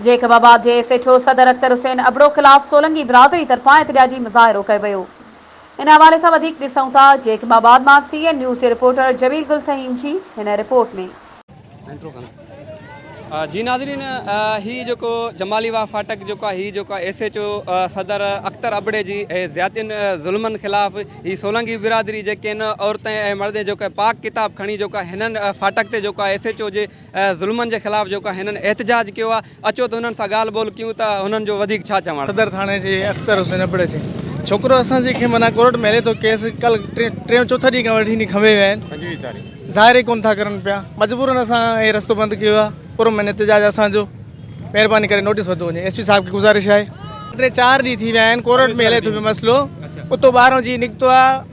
Jacob آباد جي S H O صدر اختر حسين ابڙو خلاف سولنگي برادري طرفان احتجاجي مظاهرو ڪيو ويو ان حوالي سان وڌيڪ ڏسون ٿا جيڪب آباد مان سي اين نيوز جي رپورٽر جميل گل فهيم جي هن رپورٽ ۾ جي ناظرين هي جيڪو جمالي واهه ڦاٽڪ جيڪو آهي هي جيڪو آهي ايس ايڇ او صدر اختر ابڙي جي زيادتين ظلمن خلاف هي سولنگي برادري جيڪي ان عورتين ۽ مردين جيڪو پاڪ ڪتاب کڻي جيڪو آهي هنن ڦاٽڪ تي جيڪو آهي ايس ايڇ او جي ظلمن جي خلاف جيڪو هنن احتجاج ڪيو آهي اچو ته هنن سان ڳالهه ٻولهه ڪيون ته هنن جو وڌيڪ ڇا چوڻ. صدر ٿاڻي جي اختر حسين ابڙي تي ڇوڪرو اسان جي کي معنيٰ ڪورٽ ۾ هلي ٿو ڪيس کل ٽيون چوٿ ڏينهن کان وٺي کنڀي ويا آهن پنجويهه تاريخ ظاهر ئي ڪونه ٿا ڪرن پيا مجبورن اسان هي رستو بند ڪيو آهي پرامن احتجاج اسان جو مهرباني ڪري نوٽيس ورتو وڃي ايس پي صاحب کي گذارش آهي ٽي چار ڏينهن ٿي ويا آهن ڪورٽ ۾ هلي ٿو پيو مسئلو اتو ٻاهران جي نڪتو آهي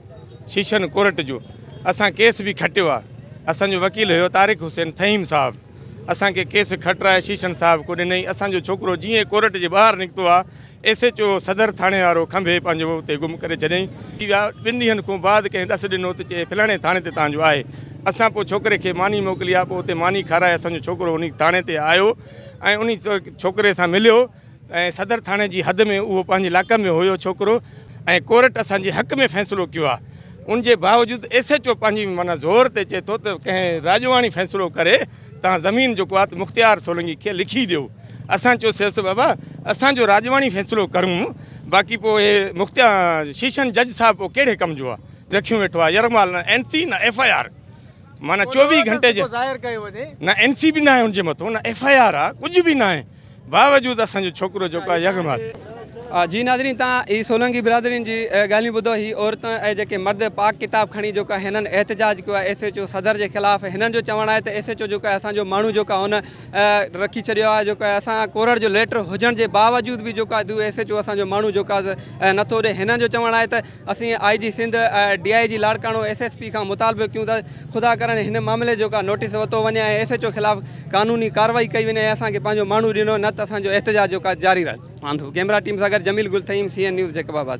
سيشن ڪورٽ جو اسان ڪيس به کٽيو آ اسان جو وڪيل ھيو طارق حسين فھيم صاحب اسان کي ڪيس کٽرائي سيشن صاحب ڪو ڏنئي اسان جو ڇوڪرو جيئن ڪورٽ جي ٻاھر نڪتو آ ايس ايچ او صدر ٿاڻي وارو کنڀي پنھنجو اتي گم ڪري ڇڏيئين ٿي ويا ٻن ڏينھن کون بعد ڪنھن ڏس ڏنو ته چئي فلاڻي ٿاڻي تي تان جو آھي اسان پو ڇوڪري کي ماني موڪلي آ پو اتي ماني کارائي اسان جو ڇوڪرو انھي ٿاڻي تي آيو ۽ انھي ڇوڪري سان مليو. ۽ صدر ٿاڻي جي حد ۾ اهو پنهنجي علائقي ۾ هيو ڇوڪرو ۽ ڪورٽ اسان جي حق ۾ فيصلو ڪيو آهي ان جي باوجود ايس ايچ او پنهنجي معنيٰ زور تي چئي ٿو ته ڪنهن راڄواڻي فيصلو ڪري تان زمين جو ڪو آت مختيار سولنگي کي لکي ڏيو اسان چيو سيس ته بابا اسان جو راڄواڻي فيصلو ڪرون باقي پو اهي مختيا شيشن جج صاحب پو ڪهڙي ڪم جو آهي رکيون ويٺو آهي يرغمال نه اين سي نه ايف آء آر معنی چوويهه گهنٽي جي ظاهر ڪيو وڃي نه اين سي بي نه آهي ان جي مٿو نه ايف آء آر آ ڪجهه به نه آهي باوجود اسان جو ڇوڪرو جيڪو آهي يغ مال جي ناظرين تان هي سولنگي برادرين جي ڳالهيون ٻڌو هي عورتون ۽ جيڪي مرد پاڪ ڪتاب کڻي جيڪو آهي هنن احتجاج ڪيو آهي ايس ايچ او صدر جي خلاف هنن جو چوڻ آهي ته ايس ايچ او جيڪو آهي اسان جو ماڻهو جيڪو آهي هن رکي ڇڏيو آهي جيڪو آهي اسان ڪورڙ جو ليٽر هجڻ جي باوجود به جيڪو آهي ايس ايچ او اسان جو ماڻهو جيڪو آهي نٿو ڏي هنن جو چوڻ آهي ته اسين I G Sindh, D I G Larkana, S S P کان مطالبو ڪيون ته خدا ڪرڻ هن معاملي جو ڪا نوٽيس ورتو وڃي ۽ ايس ايچ او خلاف قانوني ڪارروائي ڪئي وڃي ۽ اسان کي پنهنجو ماڻهو ڏنو نه ته اسان جو احتجاج جو ڪا جاري رهندو. آنڌو، ڪيمرا ٽيم سان گڏ Jamil Gul Thaheem, C N news Jacob آباد.